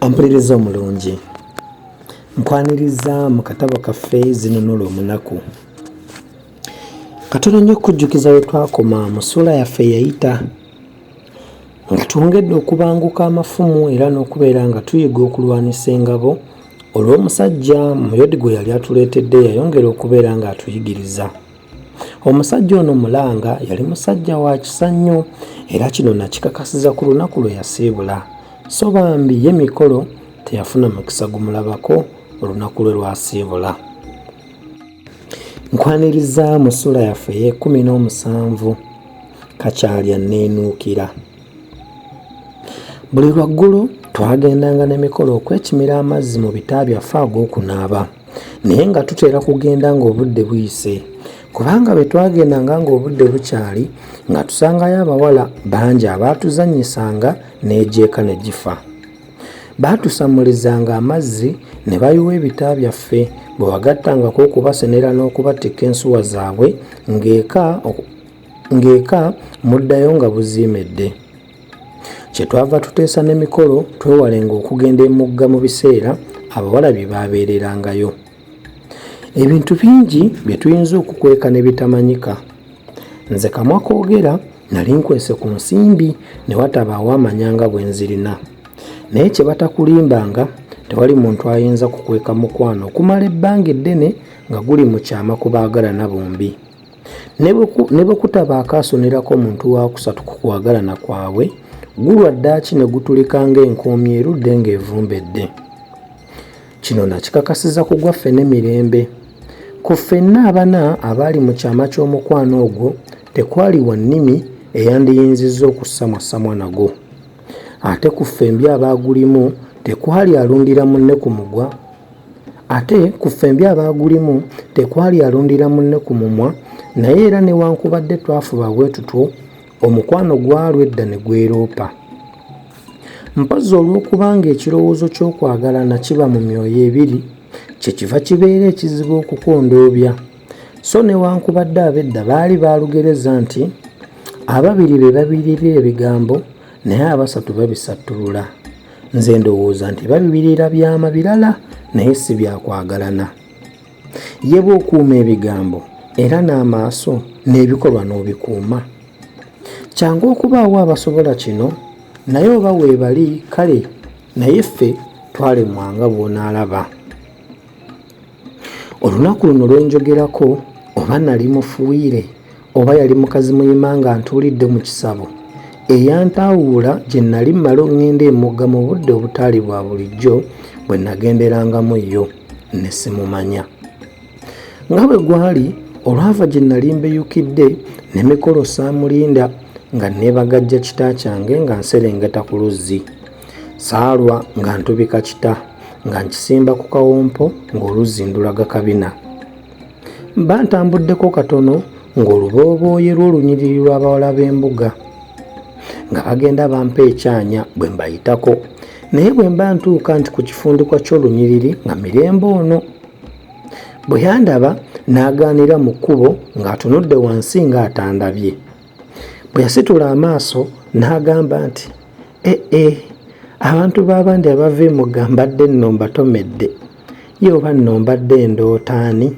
ompuliriza omulungi nkwaniriza mu katabo kaffe zinunula omunaku katono nnyo okujjukiza we twakoma mu ssuula yaffe yayita Nga twongedde okubanguka amafumu era n'okubeera nga tuyiga okulwanisa engabo, olw'omusajja Muyodi gwe yali atuleetedde yayongera okubeera ng'atuyigiriza. Omusajja ono Mulanga yali musajja wa kisa nnyo era kino nakikakasiza ku lunaku lwe yasiibula. So bambi ye mikolo teyafuna mukisa gumulabako olunaku lwe lwasiibula. nkwaniriza mu sula yaffe eyekumi n'omusanvu kakyalya neenuukira buli lwaggulu twagendanga n'emikolo okwekimira amazzi mu bita byaffe ag'okunaaba naye nga tutera kugenda ng'obudde buyise kubanga bwe twagendanga ng'obudde bukyali nga tusangayo abawala bangi abaatuzannyisanga n'egyeka ne gifa Baatusammulizanga amazzi ne bayiwa ebita byaffe, bwe wagattangako okubasenera n'okubatikka ensuwa zaabwe ng'eka muddayo nga buziimedde. Kye twava tuteesa ne mikolo twewalenga okugenda emugga mu biseera abawala bye baabeererangayo. ebintu bingi bye tuyinza okukweka ne bitamanyika nze kamwa koogera nali nkwese ku nsimbi ne watabaawo amanyanga bwe nzirina naye kye batakulimbanga tewali muntu ayinza kukweka mukwano okumala ebbanga eddene nga guli mu kyama ku baagalana bombi ne bwe kutaba akaasonerako omuntu waakusatu ku kwagalana kwabwe gulwa ddaaki ne gutulika ng'enkoomi erudde ng'evumbedde Kino nakikakasiza ku gwaffe ne mirembe. Ku ffenna abana abaali mu kyama ky'omukwano ogwo tekwali wa nnimi eyandiyinzizza okussamwassamwa nago. Ate ku ffembi abaagulimu tekwali alundira munne ku mugwa ate ku ffembi abaagulimu tekwali alundira munne ku mumwa naye era newankubadde twafuba bwe tutwo omukwano gwalwa edda ne gweroopa mpozzi olw'okubanga ekirowoozo ky'okwagalana kiba mu myoyo ebiri kyekiva kibeera ekizibu okukondoobya so newankubadde abedda baali baalugereza nti ababiri be babirira ebigambo naye abasatu babisattulula nze ndowooza nti babibirira byama birala naye si byakwagalana Ye bw'okuuma ebigambo era n'amaaso n'ebikolwa n'obikuuma. Kyangu okubaawo abasobola kino naye oba weebali kale naye ffe twalemwa nga bw'onaalaba. Olunaku luno lwe njogerako oba nali mufuuyire oba yali mukazi muyima nga ntuulidde mu kisabo eyantaawuula gye nnali mmala oŋŋenda emugga mu budde obutaali bwa bulijjo bwe nagenderangamu yo ne simumanya nga bwe gwali olwava gye nnali mbeyukidde ne mikolo saamulinda nga neebagajja kita kyange nga nserengeta ku luzzi saalwa nga ntubika kita nga nkisimba ku kawompo ng'oluzzi ndulaga kabina Mba ntambuddeko katono ng'olubooboye lw'olunyiriri lw'abawala b'embuga nga bagenda bampa ekyanya bwe mbayitako naye bwe mba ntuuka nti ku kifundikwa ky'olunyiriri nga mirembe ono bwe yandaba n'agaanira mu kkubo ng'atunudde wansi ng'atandabye bwe yasitula amaaso n'agamba nti ee eh, eh, abantu b'abandi abava emugga mbadde nno mbatomedde ye oba nno mbadde ndoota ani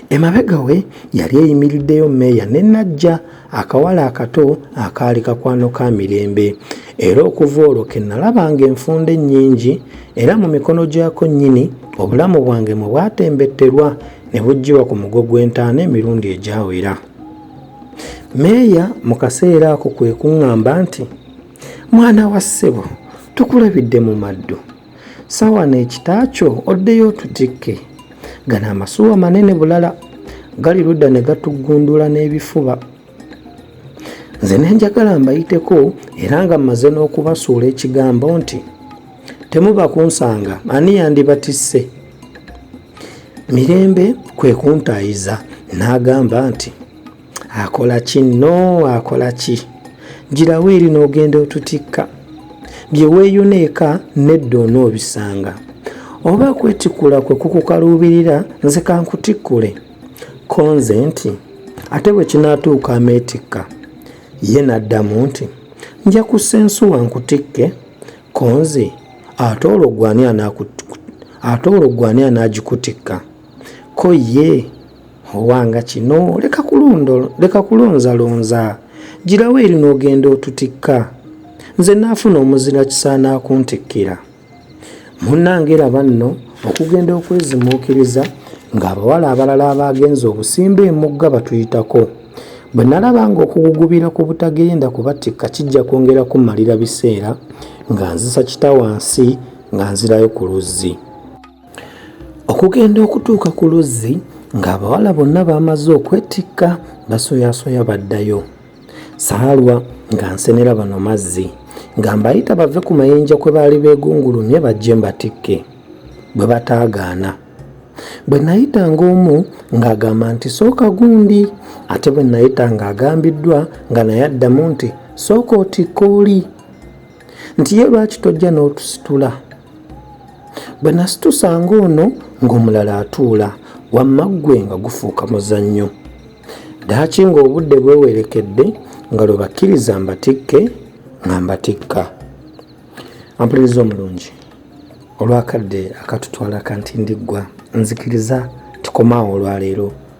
emabega we yali eyimiriddeyo meeya ne najja akawala akato akaali kakwano ka mirembe era okuva olwo ke nalaba nga enfunda ennyingi era mu mikono gyako nnyini obulamu bwange mwe bwatembetterwa ne buggiwa ku mugo gw'entaana emirundi egyawera meeya mu kaseera ako kwe kuŋŋamba nti mwana wa ssebo tukulabidde mu maddu Sawa n'ekita kyo oddeyo otutikke. Gano amasuwa manene bulala gali ludda ne gatuggundula n'ebifuba. Nze ne njagala mbayiteko era nga mmaze n'okubasuula ekigambo nti temuba kunsanga ani yandibatisse mirembe kwe kuntaayiza n'agamba nti akola ki no akola ki girawo eri n'ogenda otutikka bye weeyuna eka nedda onoobisanga oba kwetikula kwe kukukaluubirira nze kankutikkule konze nti ate bwe kinaatuuka ameetikka ye n'addamu nti nja kussa ensuwa nkutikke konze ate olwo gwani anaagikutikka Ko ye owanga kino leka kulonzalonza girawo eri n'ogenda otutikka nze naafuna omuzira kisaana akuntikkira munnange laba nno okugenda okwezimuukiriza ng'abawala abalala abaagenza obusimba emugga batuyitako bwe nalaba ng'okugugubira ku butagenda kubatikka kijja kwongera kumalira biseera nga nzisa kita wansi nga nzirayo ku luzzi okugenda okutuuka ku luzzi ng'abawala bonna baamaze okwetikka basoyasoya baddayo saalwa nga nsenera bano mazzi nga mbayita bave ku mayinja kwe baali beegungulumye bajje mbatikke bwe bataagaana bwe nayita ng'omu ng'agamba nti sooka gundi ate bwe nayita ng'agambiddwa nga naye addamu nti sooka otikka oli nti ye lwaki tojja n'otusitula bwe nasitusanga ono ng'omulala atuula wamma ggwe nga gufuuka muzannyo ddaaki ng'obudde bwewerekedde nga lwe bakkiriza mbatikke nga mbatikka ampuliriza omulungi olwakadde akatutwala kantindiggwa nzikiriza tukomaawo olwaleero